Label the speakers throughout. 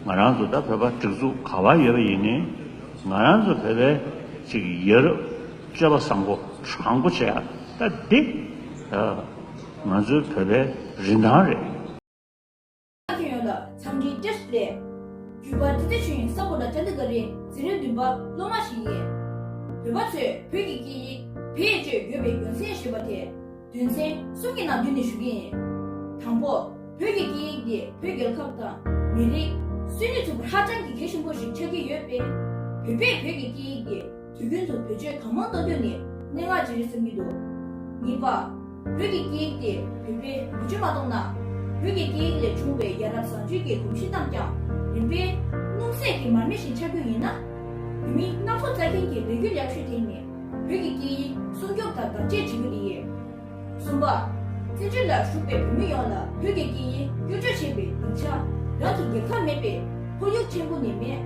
Speaker 1: ང་རང་ཚོ་ད་བོད་པ་སྒྲིག་འཛུགས་ག་བར་ཡོད་པ་ཡིན་ནའི་ང་རང་ཚོ་བོད་པའི་ཅིག་ཡོད་རབས་བཅོས་པ་བཟང་པོ་དྲང་པོ་བྱེད་ཡ་ད་འདི་ང་ཚོའི་བོད་པའི་རིན་ཐང་རེད། ལ་ཁྱོད་ཡོད་
Speaker 2: ལ་འཚམས་འདྲིའི་བཀྲ་ཤིས་ལེ། བརྒྱུད་པ་འདི་ལྟ་བྱུང་ཡིན་ས་པོ་ལ་ཅཱ་ནི་ག་རི་ཟི་རིན་བདུན་པ་སློབ་མ་ཞིག་ཡིན། བོད་པ་ཚོས་བོད་ཀྱི་སྐད་ཡིག་བེད་སྤྱོད་ཡོད་པའི་རྒྱུ་མཚན་ཞེས་པ་དེ། དུས་མཚན་གསུམ་གྱི་ནང་དུས་ནས་ཞུ་གི་ཡིན། དང་པོ། བོད་ཀྱི་སྐད་ཡིག་འདི་བོད་རྒྱལ་ཁབ་དང། མི་རིགས། སུས་ནས་ཚུགས་པ་ཧ་ཅང་གི་གལ་ཆེན་པོ་ཞིག་ཆགས་ཀྱི་ཡོད་པས། བོད་པས་བོད་ཀྱི་སྐད་ཡིག་འདི། དུས་རྒྱུན་དུ་བེད་སྤྱོད་གང་མང་གཏོང་རྒྱུ་ནི་སྙན་ངག་བརྗེ་རེས་སུ་གྱུར་འདུག་གཉིས་པ། བོད་ཀྱི་སྐད་ཡིག་དེ་བོད་པས་བེད་སྤྱོད་མ་གཏོང་ན། བོད་ཀྱི་སྐད་ཡིག་ལས་བྱུང་བའི་ཡ་རབས་བཟང་སྤྱོད་ཀྱི་གོམས་གཤིས་རྣམས་ཀྱང་རིམ་པས། སྣུམ་ཟད་ཀྱི་མར་མེ་བཞིན་ཆགས་རྒྱུ་ཡིན། བོད་མི་སྣ་ཚོགས་བཙལ་མཁན་གྱི་ལས་རྒྱུ་ལེགས་ཤོས་དེ་ནི་བོད་ཀྱི་སྐད་ཡིག་སྲུང་སྐྱོབ་དང་བདག་གཅེས་བྱེད་རྒྱུ་དེ་ཡིན། གསུམ་པ། སྲིད་གྲོས་ལ་ཞུགས་པའི་བོད་མི་ཡོངས་ལ་བོད་ཀྱི་སྐད་ཡིག་བསྐྱོན་བརྗོད་བྱེད་པའི་སྡིངས་ཆ། རང་གི་རྒྱལ་ཁབ་མེད་པས་ཁོར་ཡུག་ཆེན་པོ་ནས་མེད།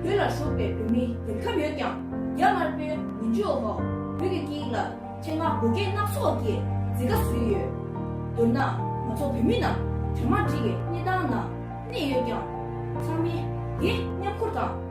Speaker 2: བོད་ལ་ཞུགས་པའི་བོད་མི་རྒྱལ་ཁབ་ཡོད་ཀྱང་རྒྱ་དམར་པོའི་ངན་ཇུས་འོག་བོད་ཀྱི་སྐད་ཡིག་ལ་ཆེད་མངགས་བགོ་སྐལ་སྣ་ཚོགས་ཀྱི་རྫི་ཁ་བཟོས་ཡོད། མདོར་ན་ང་ཚོ་བོད་མི་རྣམས་གྲ་མ་འགྲིག་གི་གནས་སྟངས་ནང་གནས་ཡོད་ཀྱང། ཚང་མས་དེ་མཉམ་འཁུར་དང།